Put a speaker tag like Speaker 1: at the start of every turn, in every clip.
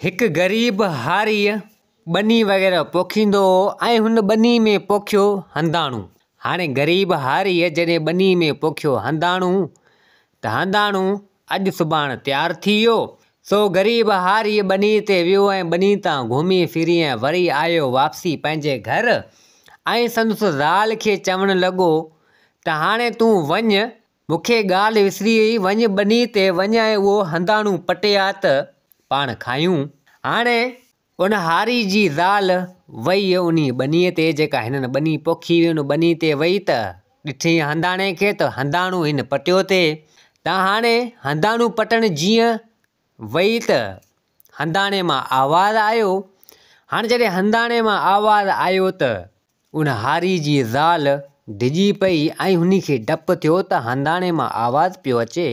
Speaker 1: هڪ غريب هاريء ٻني وغيره پوکيندو هو ۽ هن ٻني ۾ پوکيو هنداڻو. هاڻي غريب هاريء جڏهن ٻني ۾ پوکيو هنداڻو ته هنداڻو اڄ سڀاڻ تيار ٿي ويو. سو غريب هاريء ٻني تي ويو ۽ ٻني تان گهمي ڦري ۽ وري آيو واپسي پنهنجي گهر ۽ سندس زال کي چوڻ لڳو ته هاڻي تون وڃ مون کي ڳالهه وسري وئي، وڃ ٻنيء تي وڃ ۽ اهو هنداڻو پٽي آ ته پاڻ کائيون. هاڻي ان هاري جي زال وئي انهيء ٻنيء تي، جيڪا هنن ٻني پوکي هئي، ان ٻنيء تي وئي ته ڏٺيئي هنداڻي کي ته هنداڻو هن پٽيو تي تان هاڻي هنداڻو پٽڻ جيئن وئي ته هنداڻي مان آواز آيو. هاڻي جڏهن هنداڻي مان آواز آيو ته ان هاري جي زال ڊڄي پئي ۽ هن کي ڊپ ٿيو ته هنداڻي مان آواز پيو اچي،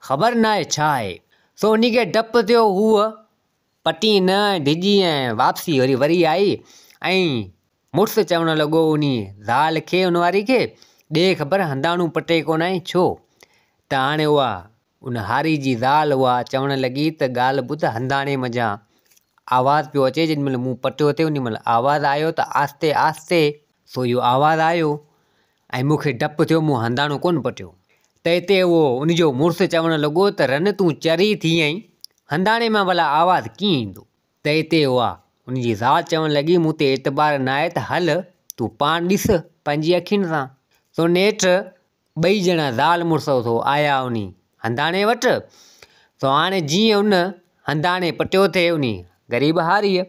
Speaker 1: خبر ناهي ڇا آهي؟ سو هن کي ڊپ ٿيو، هوء پٽي نه ۽ ڊڄي ۽ واپسي وري وري آئي ۽ مڙس چوڻ لڳو انهي زال کي، ان هاري کي، ڏي خبر هنداڻو پٽي ڪونه آهين ڇو ته هاڻي اها ان هاري جي زال اها چوڻ لڳي ته ڳالهه ٻڌ هنداڻي منجهان آواز پيو اچي جيڏي مهل مون پٽيو تي انهي مهل آواز آيو ته آهستي آهستي سو اهو آواز آيو ۽ مون کي ڊپ ٿيو مون هنداڻو ڪونه پٽيو تنهن تي اهو ان جو مڙس چوڻ لڳو ته رن تون چري ٿي ائين هنداڻي مان ڀلا آواز ڪيئن ايندو تنهن تي اها ان جي زال چوڻ لڳي مون تي اعتبار ناهي ته هل تون پاڻ ڏس پنهنجي اکين سان سو نيٺ ٻئي ڄڻا زال مڙس اٿو آيا انهي هنداڻي وٽ، سو هاڻي جيئن ان هنداڻي پٽيو ٿئي انهي غريب هاريء،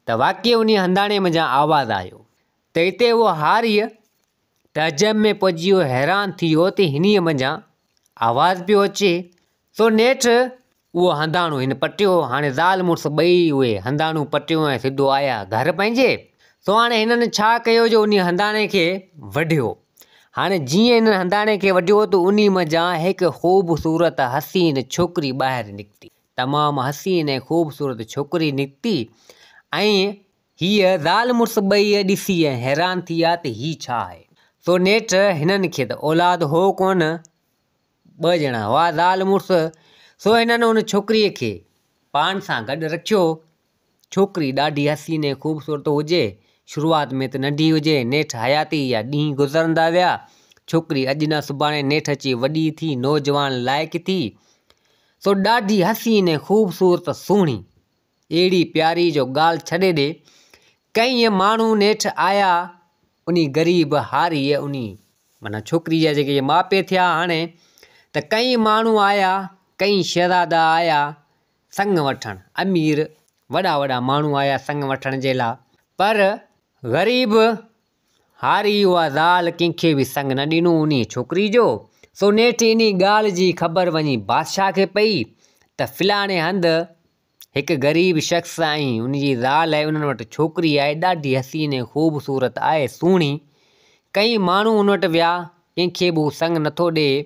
Speaker 1: ته واقعي انهي هنداڻي منجهان آواز آيو، ته هتي اهو هاريء تعجب ۾ پئجي اهو حيران ٿي ويو ته هنيء منجهان آواز پيو اچي، سو نيٺ اهو هنداڻو هن پٽيو هو. هاڻي زال مڙس ٻئي ئي اهي هنداڻو پٽيو ۽ سڌو آيا گهر پنهنجي. سو هاڻي هنن ڇا ڪيو جو انهي هنداڻي کي وڍيو. هاڻي جيئن هنن هنداڻي کي وڍيو ته انهي منجهان هڪ خوبصورت حسين ڇوڪري ٻاهر نڪتي. تمام حسين ۽ خوبصورت ڇوڪري نڪتي ۽ هيء زال مڙس ٻئي ئي ڏسي ۽ حيران ٿي ويا ته هي ڇا آهي. سو نيٺ هنن کي ته اولاد هو ڪونه. ٻه ڄڻا هئا زال مڙس، سو هنن ان ڇوڪريء کي پاڻ سان گڏ رکيو. ڇوڪري ڏاڍي حسين ۽ خوبصورت هجي. شروعات ۾ ته ننڍي هجي، نيٺ حياتيء جا ڏينهن گذرندا ويا. ڇوڪري اڄ نه سڀاڻي نيٺ اچي وڏي ٿي، نوجوان لائق ٿي، سو ڏاڍي حسين ۽ خوبصورت سهڻي. ايڙي پياري جو ڳالھ ڇڏي ڏي. ڪئين ماڻھو نيٺ آيا انھي غريب ھاريء انھي معنيٰ ڇوڪري جا جيڪي ماء پي ٿيا ھاڻي ته ڪئين ماڻھو آيا ڪئين شھزادا آيا سڱ وٺڻ امير وڏا وڏا ماڻھو آيا سڱ وٺڻ جي لا پر غريب هاري اها زال ڪنهن کي به سڱ نه ڏنو انهيء ڇوڪري جو، سو نيٺ انهيء ڳالهه جي خبر وڃي بادشاهه کي پئي ته فلاڻي هنڌ هڪ غريب شخص ۽ ان جي زال ۽ انهن وٽ ڇوڪري آهي، ڏاڍي حسين ۽ خوبصورت آهي، سهڻي. ڪئين ماڻهو ان وٽ ويا، ڪنهن کي به هو سڱ نٿو ڏئي،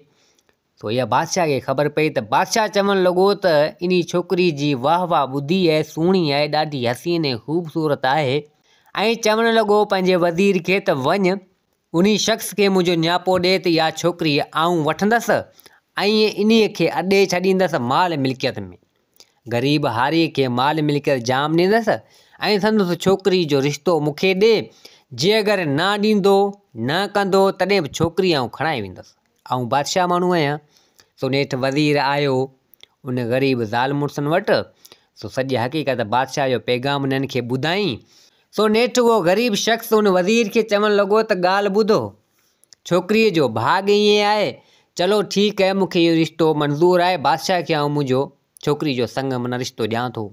Speaker 1: ٿويا بادشاهه کي خبر پئي ته بادشاهه چوڻ لڳو ته انهي ڇوڪري جي واهه واهه ٻڌي اهي سهڻي آهي ڏاڍي حسين ۽ خوبصورت آهي ۽ چوڻ لڳو پنهنجي وزير کي ته وڃ انهي شخص کي منهنجو نياپو ڏي ته اها ڇوڪري آئون وٺندس ۽ انهي کي اڏي ڇڏيندس مال ملڪيت ۾ غريب هاري کي مال ملڪيت جام ڏيندس ۽ سندس ڇوڪري جو رشتو مون کي ڏي جي اگر نه ڏيندو نه ڪندو تڏهن به ڇوڪري آئون کڻائي ويندس. آئون بادشاهه ماڻهو آهيان. سو نيٺ وزير آيو ان غريب زال مڙسن وٽ، سو سڄي حقيقت بادشاهه جو پيغام انهن کي ٻڌائين. سو نيٺ اهو غريب شخص ان وزير کي چوڻ لڳو ته ڳالهه ٻڌو، ڇوڪريء جو ڀاڳ ائين آهي، چلو ٺيڪ آهي، مون کي اهو رشتو منظور آهي، بادشاهه کي آئون منهنجو ڇوڪري جو سڱ معنيٰ رشتو ڏيان ٿو.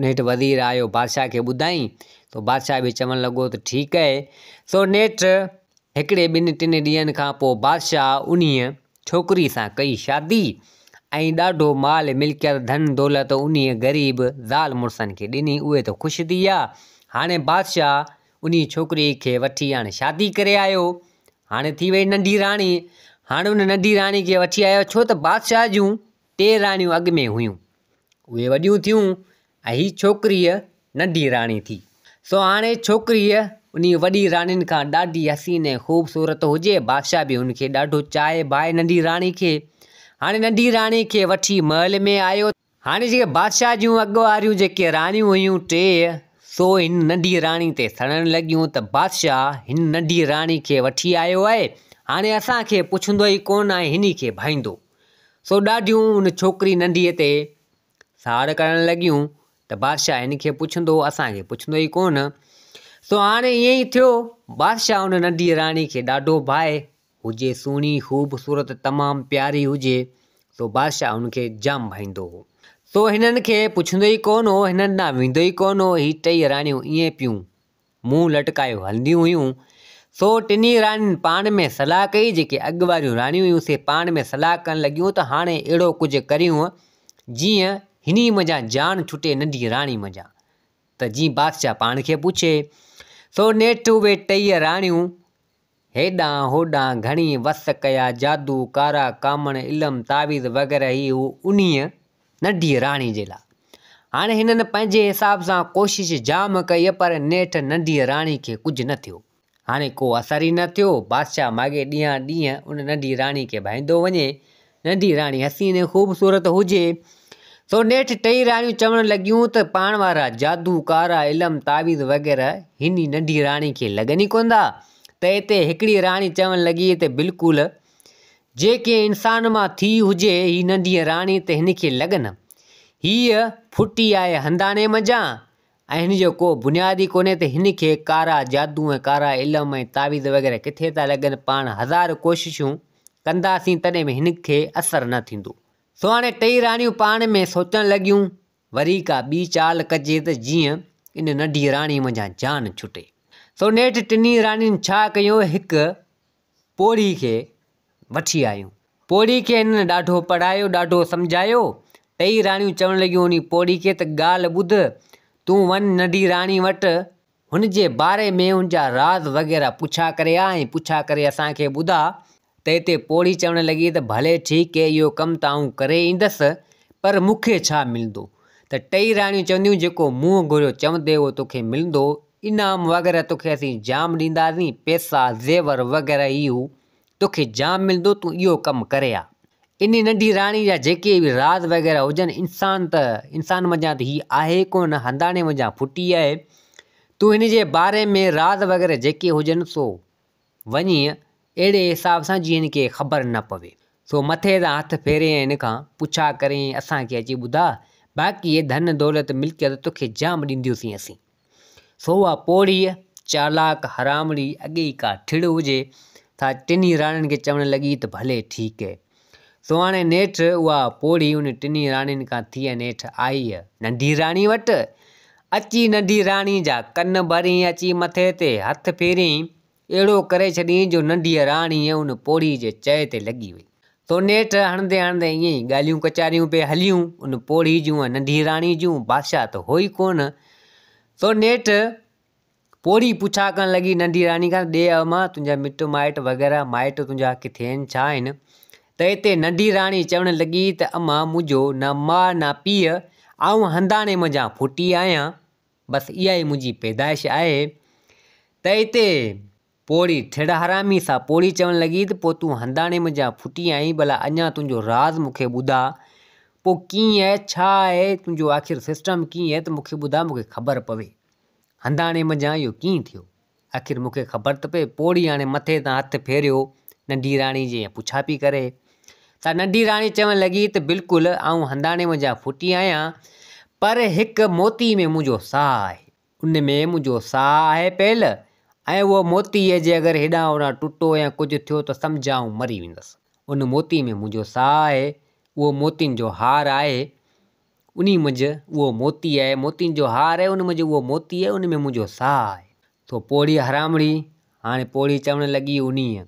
Speaker 1: نيٺ وزير آيو بادشاهه کي ٻڌائين تو بادشاهه به چوڻ لڳو ته ٺيڪ اهي سو نيٺ هڪڙي ٻن ٽن ڏينهن کان پوء بادشاهه انهي ڇوڪري سان ڪئي شادي ۽ ڏاڍو مال ملڪيت ڌن دولت انهي غريب زال مڙسن کي ڏني اهي ته خوش ٿيا هاڻي بادشاهه انهي ڇوڪري کي وٺي آڻ شادي ڪري آيو هاڻي ٿي وئي ننڍي راڻي هاڻي ان ننڍي راڻي کي وٺي آيو ڇو ته بادشاهه جون ٽي راڻيون اڳ ۾ هيون. اهي وڏيون ٿيون ۽ هي ڇوڪريء ننڍي راڻي ٿي. سو هاڻي ڇوڪريء انهيء وڏي راڻين کان ڏاڍي حسين ۽ خوبصورت هجي. بادشاهه به هن کي ڏاڍو چاهي ڀائي ننڍي راڻي کي. هاڻي ننڍي راڻي کي وٺي محل ۾ آيو. هاڻي جيڪي بادشاهه جون اڳ واريون جيڪي راڻيون هيون ٽي سو هن ننڍي راڻي تي سڙڻ لڳيون ته بادشاهه هن ننڍي راڻي کي وٺي آيو آهي. هاڻي اسان کي پڇندو ئي ڪونه ۽ هني کي ڀائيندو. سو ڏاڍيون ان ڇوڪري ننڍيء تي ساڙ ڪرڻ لڳيون ته بادشاهه هن کي پڇندو اسان کي پڇندو ئي ڪونه سو هاڻي ائين ئي ٿيو بادشاهه ان ننڍيء راڻي کي ڏاڍو ڀائي هجي سهڻي خوبصورت تمام پياري هجي سو بادشاهه هن کي جام ڀائيندو هو سو هنن کي پڇندو ئي ڪونه هو هنن ڏانهن ويندو ئي ڪونه هو هي ٽيئي راڻيون ائين پيون منهن لٽڪايو هلنديون هيون، سو ٽنهي راڻين پاڻ ۾ صلاح ڪئي، جيڪي اڳ واريون راڻيون هيون، سي پاڻ ۾ صلاح ڪرڻ لڳيون ته هاڻي اهڙو ڪجهه ڪريون، جيئن هني منجهان جان ڇٽي ننڍيء راڻي منجهان، ته جيئن بادشاهه پاڻ کي پڇي. سو نيٺ اهي ٽيئي راڻيون هيڏانهن هوڏانهن گهڻي وس ڪيا، جادو، ڪارا ڪامڻ، علم، تعويذ وغيره هي هو انهيء ننڍيء راڻي جي لاء. هاڻي هنن پنهنجي حساب سان ڪوشش جام ڪئي پر نيٺ ننڍيء راڻي کي ڪجهه نه ٿيو. هاڻي ڪو اثر ئي نه ٿيو. بادشاهه ماڳهين ڏينهان ڏينهن ان ننڍيء راڻي کي ڀائيندو وڃي ننڍي راڻي حسين ۽ خوبصورت هجي سو نيٺ ٽئي راڻيون چوڻ لڳيون ته پاڻ وارا جادو ڪارا علم تعويذ وغيره هني ننڍي راڻي کي لڳن ئي ڪوندا ته اتي هڪڙي راڻي چوڻ لڳي ته بلڪل جي ڪنهن انسان مان ٿي هجي هي ننڍي راڻي ته هن کي لڳن هيء ڦٽي آهي هنداڻي منجهان ۽ هن جو ڪو بنياد ئي ڪونهي ته هن کي ڪارا جادو ۽ ڪارا علم ۽ تعويذ وغيره ڪٿي ٿا لڳن پاڻ هزار ڪوششون ڪنداسين تڏهن به هن کي اثر نه ٿيندو. سو هاڻي ٽئي راڻيون پاڻ ۾ سوچڻ لڳيون وري ڪا ٻي چال ڪجي ته جيئن ان ننڍي راڻي منجهان جان ڇٽي. سو نيٺ ٽنهي راڻين ڇا ڪيو هڪ پوڙهي کي وٺي آيون. پوڙهي کي هنن ڏاڍو پڙهايو، ڏاڍو سمجهايو. ٽيئي راڻيون چوڻ لڳيون انهي پوڙهي کي ته ڳالهه ٻڌ، تون وڃ ننڍي راڻي وٽ، هن جي باري ۾ هن جا راز وغيره پڇا ڪري آ ۽ پڇا ڪري اسان کي ٻڌاء. تنهن تي پوڙهي چوڻ لڳي ته ڀلي ٺيڪ هي، اهو ڪم ته آئون ڪري ايندس، پر مون کي ڇا ملندو؟ ته ٽيئي راڻيون چونديون، جيڪو منهن گهريو چوندي اهو توکي ملندو. انعام وغيره توکي اسين جام ڏينداسين، پيسا، زيور وغيره ئي هو، توکي جام ملندو، تون اهو ڪم ڪري آ. انهي ننڍي راڻي جا جيڪي به راز وغيره هجن، انسان ته انسان منجهان ته هي آهي ڪو نه، هنداڻي منجهان ڦٽي آهي، تون هن جي باري ۾ راز وغيره جيڪي هجن سو وڃيء اهڙي حساب سان جيئن هن کي خبر نه پوي، سو مٿي تان هٿ ڦيرين ۽ هن کان پڇا ڪرين ۽ اسان کي اچي ٻڌاء، باقي هي ڌن دولت ملڪيت توکي جام ڏينديونسين اسين. سو اها پوڙهيء چالاڪ حرامڙي اڳي ئي ڪا ٺڙ هجي ها ٽنهي راڻين کي چوڻ لڳي ته ڀلي ٺيڪ. سو هاڻي نيٺ اها پوڙهي انهن ٽنهي راڻين کان ٿي ۽ نيٺ آئي ننڍي راڻي وٽ. اچي ننڍي راڻي جا ڪن ڀريئين اچي مٿي تي هٿ ڦيريئين. اهڙو ڪري ڇڏيئين جو ننڍيء راڻيء ان پوڙهي جي چئي تي لڳي وئي. سو نيٺ هڻندي هڻندي ائين ئي ڳالهيون ڪچاريون پئي هليون. ان پوڙهي جون ۽ ننڍيء راڻيء جون بادشاهه ته هو ئي ڪونه. سو نيٺ پوڙهي پڇا ڪرڻ لڳي ننڍيء راڻيء کان ته ڏي امان تنهنجا مٽ مائٽ وغيره مائٽ تنهنجا ڪٿي آهن ڇا آهن؟ ته اتي ننڍي راڻي چوڻ لڳي ته امان منهنجو نه ماء نه پيء آئون هنداڻي منجهان ڦٽي آهيان بس اها ئي منهنجي پيدائش آهي. ته اتي پوڙهي ٺڙ حرامي سا پوڙهي چوڻ لڳي ته پوء تون هنداڻي منجهان ڦٽي آهين ڀلا اڃان تنهنجو راز مون کي ٻڌاء پوء ڪيئن آهي ڇا آهي تنهنجو آخر سسٽم ڪيئن آهي ته مون کي ٻڌاء مون کي خبر پوي هنداڻي منجهان اهو ڪيئن ٿيو. آخر مون کي خبر ته پئي، پوڙهي هڻي مٿي تان هٿ ڦيريو ننڍي راڻي جي ۽ پڇا پئي ڪري ته ننڍي راڻي چوڻ لڳي ته بلڪل آئون هنداڻي منجهان ڦٽي آهيان پر هڪ موتي ۾ منهنجو ساهه آهي، ان ۾ منهنجو ساهه آهي پيل ۽ اهو موتي جي اگر هيڏانهن هوڏانهن ٽٽو يا ڪجهه ٿيو ته سمجهه آئون مري ويندس، ان موتي ۾ منهنجو ساهه آهي، اهو موتين جو هار آهي، انهي منجهه اهو موتي آهي، موتين جو هار آهي، ان منجهه اهو موتي آهي، ان ۾ منهنجو ساهه آهي. تو پوڙهي حرامڙي! هاڻي پوڙهي چوڻ لڳي انهيء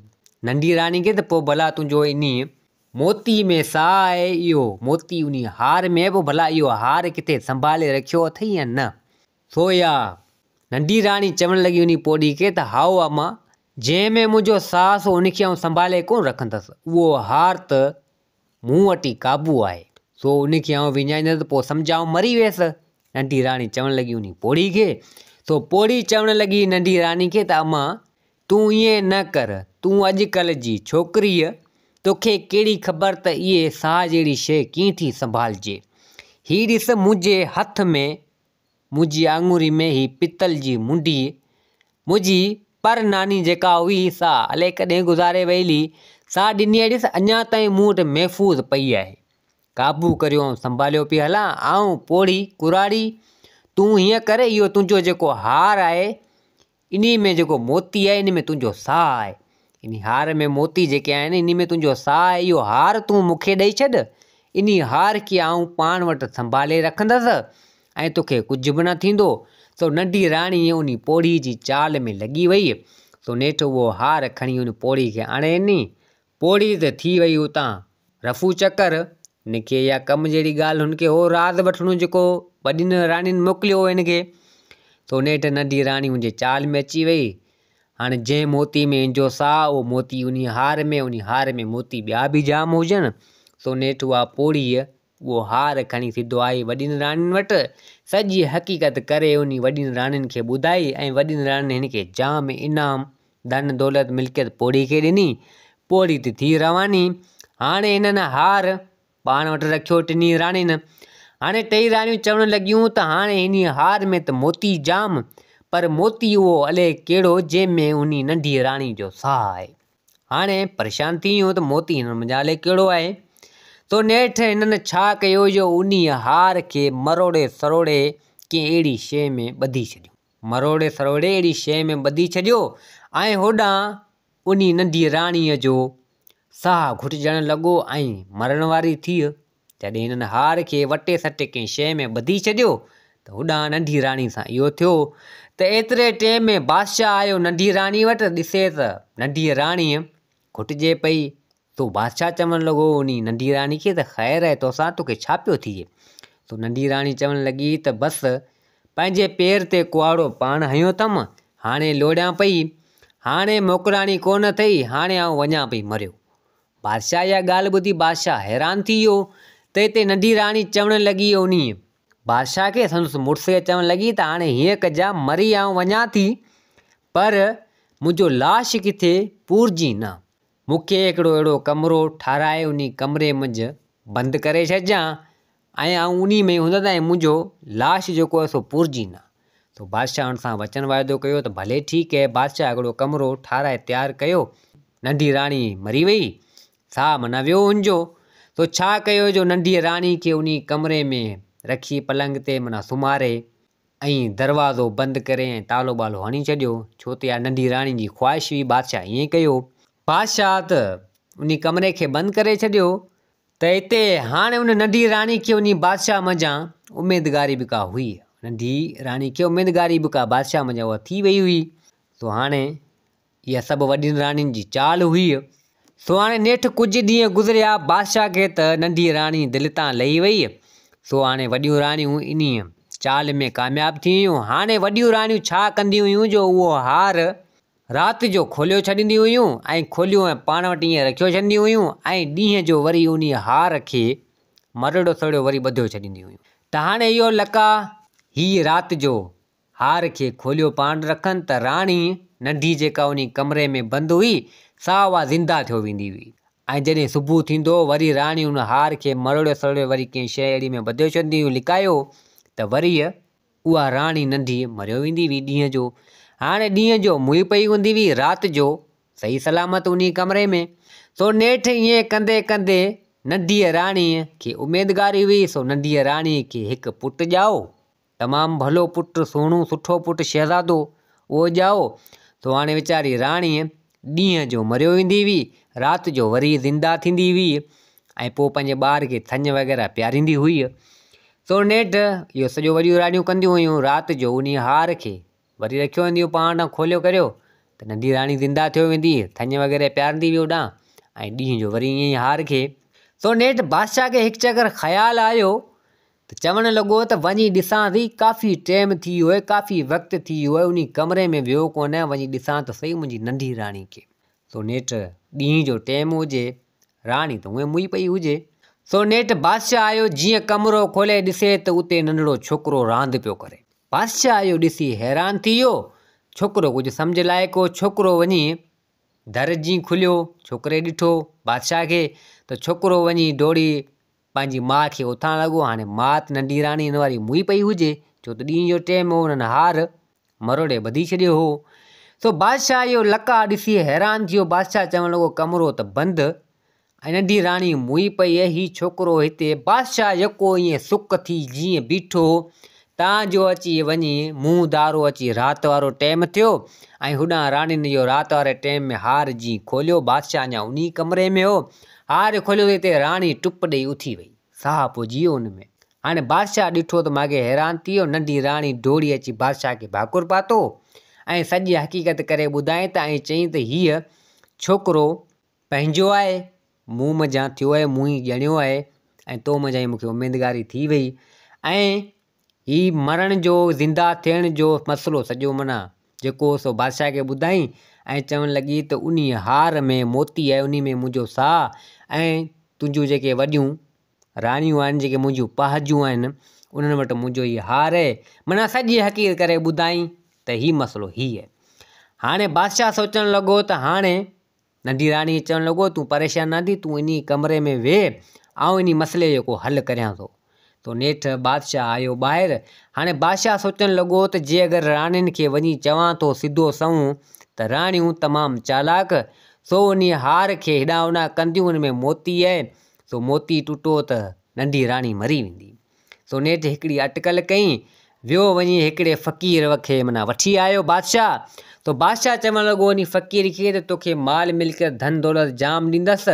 Speaker 1: ننڍيء راڻي کي ته پوء ڀلا تنهنجو انهيء موتيء ۾ ساهه آهي، اهو موتي انهيء هار ۾ آهي، پوء ڀلا اهو هار ڪٿي سنڀالي رکيو اٿئي يا نه؟ سو اها ننڍي راڻي چوڻ لڳي انهي پوڙهي کي ته هائو امان! جنهن ۾ منهنجو ساهه سو ان کي آئون سنڀالي ڪونه رکندس. اهو هار ته مون وٽ ئي قابو آهي، سو ان کي آئون وڃائيندس ته پوء سمجهه آئون مري ويس. ننڍي راڻي چوڻ لڳي انهي پوڙهي کي، سو پوڙهي چوڻ لڳي ننڍي راڻي کي ته امان تون ائين نه ڪر، تون اڄڪلهه جي ڇوڪريء، توکي ڪهڙي خبر ته اهي ساهه جهڙي شيء ڪيئن ٿي سنڀالجي. هي ڏس منهنجي هٿ ۾ منهنجي آڱري ۾ هي پتل جي منڍي منهنجي پر ناني جيڪا هئي سا الائي ڪڏهن گذاري ويلي سا ڏني اڙيس اڃا تائين مون وٽ محفوظ پئي آهي قابو ڪريو ۽ سنڀاليو پئي هلان آئون پوڙهي ڪراڙي تون هيئن ڪر اهو تنهنجو جيڪو هار آهي انهيء ۾ جيڪو موتي آهي، انهيء ۾ تنهنجو ساهه آهي. انهيء هار ۾ موتي جيڪي آهن، انهيء ۾ تنهنجو ساهه آهي. اهو هار تون مون کي ڏئي ڇڏ. انهيء هار کي آئون پاڻ وٽ سنڀالي رکندس ۽ توکي ڪجهه به نه ٿيندو. سو ننڍي راڻيء انهيء پوڙهي جي چال ۾ لڳي ويئي. سو نيٺ اهو هار کڻي ان پوڙهي کي آڻي ڏني. پوڙهي ته ٿي وئي اتان رفو چڪر هن کي اها ڪم جهڙي ڳالهه هن کي اهو راز وٺڻو جيڪو وڏين راڻين موڪليو هو هن کي تو نيٺ ننڍي راڻي هن جي چال ۾ اچي وئي هاڻي جنهن موتي ۾ هن جو ساهه اهو موتي انهي هار ۾ انهي هار ۾ موتي ٻيا به جام هجن سو نيٺ اها پوڙهيء اهو هار کڻي سڌو آئي وڏين راڻين وٽ، سڄي حقيقت ڪري انهي وڏين راڻين کي ٻڌائي ۽ وڏين راڻين هن کي جام انعام، ڌن دولت، ملڪيت پوڙهي کي ڏني. پوڙهي تي ٿي رواني. هاڻي هنن هار پاڻ وٽ رکيو ٽنهي راڻين. هاڻي ٽيئي راڻيون چوڻ لڳيون ته هاڻي هني هار ۾ ته موتي جام، پر موتي اهو الئي ڪهڙو جنهن ۾ انهي ننڍي راڻي جو ساهه آهي. هاڻي پريشان ٿي هو ته موتي هنن منهنجا هلي ڪهڙو آهي تو نيٺ هنن ڇا ڪيو جو انهيء هار کي مروڙي سروڙي ڪنهن اهڙي شيء ۾ ٻڌي ڇڏيو. مروڙي سروڙي اهڙي شيء ۾ ٻڌي ڇڏيو ۽ هوڏانهن انهيء ننڍيء راڻيء جو ساهه گهٽجڻ لڳو ۽ مرڻ واري ٿيء. جڏهن هنن هار کي وٽي سٽي ڪنهن شيء ۾ ٻڌي ڇڏيو ته هوڏانهن ننڍي راڻي سان اهو ٿيو ته ايتري ٽيم ۾ بادشاهه آيو ننڍي راڻي وٽ ڏسي ته ننڍيء راڻيء گهٽجي پئي سو بادشاهه چوڻ لڳو انهيء ننڍي راڻي کي ته خير آهي توسان توکي ڇا پيو ٿئي سو ننڍي راڻي چوڻ لڳي ته بس پنهنجي پير تي ڪهاڙو پاڻ هنيو اٿم هاڻي لوڙيان پئي هاڻي موڪلاڻي ڪونه اٿئي هاڻي آئون وڃان پئي مريو بادشاهه اها ڳالهه ٻڌي بادشاهه حيران ٿي ويو ته هتي ننڍي راڻي چوڻ لڳي انهيء بادشاهه کي سندس مڙس کي چوڻ لڳي ته هاڻي هيئن ڪجاء مري آئون وڃان ٿي پر منهنجو لاش ڪٿي پورجين نه مون کي هڪڙو اهڙو ڪمرو ٺاهرائي انهي ڪمري منجهه بند ڪري ڇڏجان ۽ آئون انهيء ۾ هوندس ۽ منهنجو لاش جيڪو آهي سو پورجي نه. سو بادشاهه هن سان وچن واعدو ڪيو ته ڀلي ٺيڪ هي. بادشاهه هڪڙو ڪمرو ٺاهرائي تيار ڪيو. ننڍي راڻي مري ويئي. ساهه منا ويو هن جو. سو ڇا ڪيو جو ننڍيء راڻي کي انهيء ڪمري ۾ رکي پلنگ تي منا سمهاري ۽ دروازو بند ڪري ۽ تالو ٻالو هڻي ڇڏيو. ڇو ته اها ننڍي راڻي جي خواهش هئي. بادشاهه ائين ڪيو. بادشاهه ته انهيء ڪمري کي بند ڪري ڇڏيو. ته اتي هاڻي ان ننڍيء راڻي کي انهيء بادشاهه منجهان اميدگاري به ڪا هئي. ننڍيء راڻي کي اميدگاري به ڪا بادشاهه منجهان اها ٿي ويئي هئي. سو هاڻي اها سڀ وڏين راڻين جي چال هئي. سو هاڻي نيٺ ڪجهه ڏينهن گذريا بادشاهه کي ته ننڍيء راڻي دل تان لهي ويئي. سو هاڻي وڏيون راڻيون انهيء چال ۾ ڪامياب ٿي ويون. هاڻي وڏيون راڻيون ڇا ڪنديون هيون جو اهو هار رات جو کوليو ڇڏينديون هيون ۽ کوليون ۽ پاڻ وٽ ائين رکيو ڇڏينديون هيون ۽ ڏينهن جو وري انهي هار کي مرڙيو ٿڙيو وري ٻڌيو ڇڏينديون هيون ته هاڻي اهو لڪا هيء رات جو هار کي کوليو پاڻ رکن ته راڻي ننڍي جيڪا انهي ڪمري ۾ بند هئي سا اها زنده ٿيو ويندي هئي ۽ جڏهن صبح ٿيندو هو وري راڻي ان هار کي مرڙيو ٿڙيو وري ڪنهن شيء اهڙي ۾ ٻڌيو ڇڏينديون هيون لڪايو ته وري اها راڻي ننڍيء مريو ويندي هئي ڏينهن جو، هاڻي ڏينهن جو موئي پئي هوندي هئي، رات جو صحيح سلامت انهيء ڪمري ۾. سو نيٺ ائين ڪندي ڪندي ننڍيء راڻيء کي اميدگاري هئي، سو ننڍيء راڻيء کي هڪ پٽ ڄائو، تمام ڀلو پٽ، سهڻو سٺو پٽ، شهزادو اهو ڄائو، سو هاڻي ويچاري راڻيء ڏينهن جو مريو ويندي هئي رات جو وري زنده ٿيندي هئي ۽ پوء پنهنجي ٻار کي ٿڃ وغيره پياريندي هئي سو نيٺ اهو سڄو وڏيون راڻيون ڪنديون هيون رات جو انهي هار کي وري رکيو ويندي هو پاڻ وٽان کوليو ڪريو ته ننڍي راڻي زنده ٿيو ويندي هئي ٿڃ وغيره پيارندي هئي هوڏانهن ۽ ڏينهن جو وري ائين ئي هار کي سو نيٺ بادشاهه کي هڪ چڪر خيال آيو ته چوڻ لڳو ته وڃي ڏسان سهي ڪافي ٽيم ٿي ويو آهي ڪافي وقت ٿي ويو آهي انهي ڪمري ۾ ويو ڪونه وڃي ڏسان ته سهي منهنجي ننڍي راڻي کي سو نيٺ ڏينهن جو ٽيم هجي راڻي ته هونئن مئي پئي هجي سو نيٺ بادشاهه آيو جيئن ڪمرو کولي ڏسي ته اتي ننڍڙو ڇوڪرو راند پيو ڪري بادشاهه اهو ڏسي حيران ٿي ويو ڇوڪرو ڪجهه سمجهه لائق هو ڇوڪرو وڃي در جيئن کليو ڇوڪري ڏٺو بادشاهه کي ته ڇوڪرو وڃي ڊوڙي پنهنجي ماء کي اٿارڻ لڳو. هاڻي مات ننڍيراڻي هن واري موئي پئي هجي، ڇو ته ڏينهن جو ٽيم هو، هنن هار مروڙي ٻڌي ڇڏيو هو. سو بادشاهه اهو لقاء ڏسي حيران ٿيو. بادشاهه چوڻ لڳو، ڪمرو ته بند ۽ ننڍي راڻي موئي پئي، هي ڇوڪرو هتي؟ بادشاهه يڪو ائين سڪ ٿي جيئن بيٺو هو، تان جو اچي وڃي مون دارو اچي رات وارو ٽيم ٿيو ۽ هوڏانهن راڻين اهو رات واري ٽيم ۾ هار جيئن کوليو بادشاهه اڃا انهي ڪمري ۾ هو هار کوليو ته اتي راڻي ٽپ ڏئي اٿي وئي ساهه پوء جيئي ان ۾ هاڻي بادشاهه ڏٺو ته ماڳهي حيران ٿي ويو ننڍي راڻي ڊوڙي اچي بادشاهه کي ڀاڪر پاتو ۽ سڄي حقيقت ڪري ٻڌائين ته ائين چئين ته هيء ڇوڪرو پنهنجو آهي، مون منجهان ٿيو آهي، مون ئي ڄڻيو آهي ۽ تو منجهان ئي مون کي اميدگاري ٿي وئي ۽ هي مرڻ جو زنده ٿيڻ جو مسئلو سڄو منا جيڪو هو سو بادشاهه کي ٻڌائين ۽ چوڻ لڳي ته انهيء هار ۾ موتي آهي انهي ۾ منهنجو ساهه ۽ تنهنجون جيڪي وڏيون راڻيون آهن جيڪي منهنجون پهاجون آهن انهن وٽ منهنجو هي هار آهي منا سڄي حقيقت ڪري ٻڌائين ته هي مسئلو هي آهي هاڻي بادشاهه سوچڻ لڳو ته هاڻي ننڍي راڻيء چوڻ لڳو، تون پريشان نه ٿي، تون انهيء ڪمري ۾ ويهه، آئون انهيء مسئلي جو ڪو حل ڪريان ٿو. تو نيٺ بادشاهه آيو ٻاهر. هاڻي بادشاهه سوچڻ لڳو ته جي اگر راڻين کي وڃي چوان ٿو سڌو سنئون ته راڻيون تمام چالاڪ، سو انهيء هار کي هيڏانهن هوڏانهن ڪنديون، ان ۾ موتي آهي، سو موتي ٽٽو ته ننڍي راڻي مري ويندي. سو نيٺ هڪڙي اٽڪل ڪئي، ويو وڃي هڪڙي فقير کي معنيٰ وٺي آيو بادشاهه، سو بادشاهه چوڻ لڳو انهي فقير کي ته توکي مال ملڪيت ڌن دولت جام ڏيندس،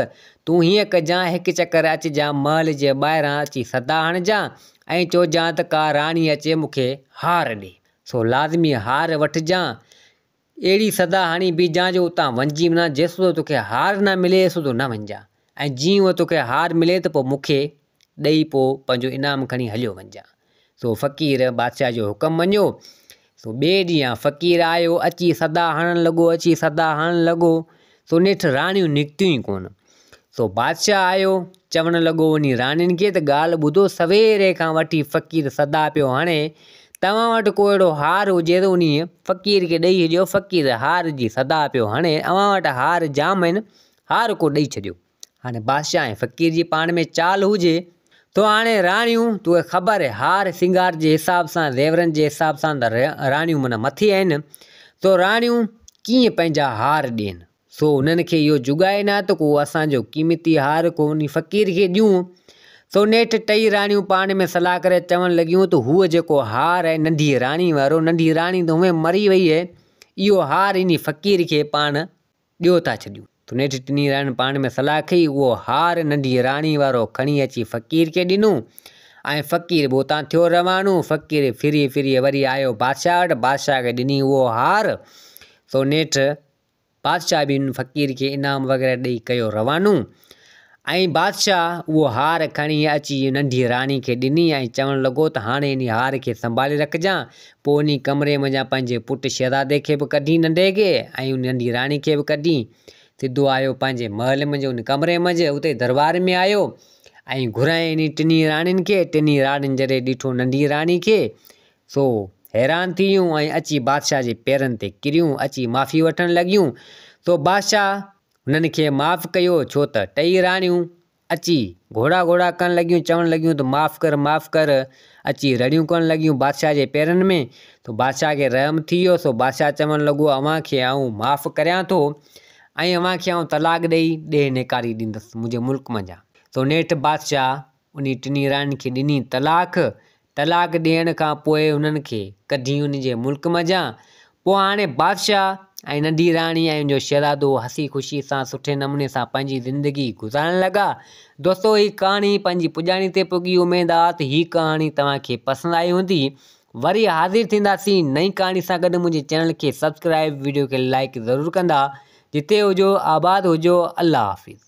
Speaker 1: تون هيئن ڪجانء هڪ چڪر اچجانء محل جي ٻاهران اچي صدا هڻجانء ۽ چئجانء ته ڪا راڻي اچي مون کي هار ڏي، سو لازمي هار وٺجانء، اهڙي صدا هڻي بيجان جو اتان وڃجي وڃان جيسدو توکي هار نه ملي ايسدو نه وڃجان ۽ جي هونء توکي هار ملي ته پوء مونکي ڏئي پوء پنهنجو انعام کڻي هليو وڃجان. سو فقير بادشاهه جو حڪم مڃيو. سو ٻئي ڏينهن فقير آيو اچي صدا هڻڻ لڳو اچي صدا هڻڻ لڳو. سو نيٺ راڻيون نڪتيون ئي ڪونه. سو بادشاهه آيو، چوڻ لڳو انهي راڻين کي ته ڳالهه ٻڌو سويري کان وٺي فقير صدا پيو هڻي، توهان وٽ ڪو اهڙو هار هجي ته انهي فقير کي ڏئي ڇڏيو، فقير هار جي صدا پيو هڻي، اوهان وٽ هار جام آهن، هار ڪو ڏئي ڇڏيو. هاڻي بادشاهه ۽ فقير جي پاڻ ۾ چال هجي ٿو هاڻي راڻيون تو کي خبر هي هار سينگار جي حساب سان زيورن جي حساب سان ته راڻيون معنيٰ مٿي آهن تو راڻيون ڪيئن پنهنجا هار ڏين سو انهن کي اهو جڳائي نه ته ڪو اسان جو قيمتي هار ڪو انهي فقير کي ڏيون سو نيٺ ٽئي راڻيون پاڻ ۾ صلاح ڪري چوڻ لڳيون ته هو جيڪو هار آهي ننڍي راڻي وارو ننڍي راڻي ته هونئن مري وئي آهي اهو هار انهي فقير کي پاڻ ڏيو ٿا ڇڏيون. تو نيٺ ٽنهي راڻين پاڻ ۾ صلاح ڪئي. اهو هار ننڍيء راڻيء وارو کڻي اچي فقير کي ڏنو ۽ فقير به اتان ٿيو رواڻو. فقير ڦري ڦري وري آيو بادشاهه وٽ. بادشاهه کي ڏني اهو هار. سو نيٺ بادشاهه به ان فقير کي انعام وغيره ڏيئي ڪيو رواڻو. ۽ بادشاهه اهو هار کڻي اچي ننڍيء راڻي کي ڏني ۽ چوڻ لڳو ته هاڻي انهي هار کي سنڀالي رکجان. پوء انهي ڪمري منجهان پنهنجي پٽ شهزادي کي به ڪڍي ننڍي کي ۽ ان ننڍي راڻي کي به ڪڍي سڌو آيو پنهنجي محل منجهه ان ڪمري منجهه اتي درٻار ۾ آيو ۽ گهرايائين انهي ٽنهي راڻين کي. ٽنهي راڻين جڏهن ڏٺو ننڍي راڻي کي سو حيران ٿيون ۽ اچي بادشاهه جي پيرن تي ڪريون اچي معافي وٺڻ لڳيون سو بادشاهه هنن کي معاف ڪيو ڇو ته ٽئي راڻيون اچي گهوڙا گهوڙا ڪرڻ لڳيون چوڻ لڳيون ته معاف ڪر معاف ڪر اچي رڙيون ڪرڻ لڳيون بادشاهه جي پيرن ۾ سو بادشاهه کي رحم ٿي ويو سو بادشاهه چوڻ لڳو اوهان کي آئون معاف ڪريان ٿو ۽ اوهان کي آئون طلاق ڏئي ڏيهه نيڪاري ڏيندس منهنجي ملڪ منجهان سو نيٺ بادشاهه انهي ٽنهي راڻين کي ڏني طلاق طلاق ڏيڻ کان پوء هنن کي ڪڍي ان جي ملڪ منجهان پوء هاڻي بادشاهه ۽ ننڍي راڻي ۽ ان جو شهزادو هسي خوشي سان سٺي نموني سان پنهنجي زندگي گذارڻ لڳا. دوستو هي ڪهاڻي پنهنجي پڄاڻي تي پڳي اميد آ ته هي ڪهاڻي توهان کي پسند آئي هوندي. وري حاضر ٿينداسين نئين ڪهاڻي سان گڏ منهنجي چينل کي سبسڪرائيب وڊيو کي لائيڪ ضرور ڪندا جتي هجو آباد هجو الله حافظ.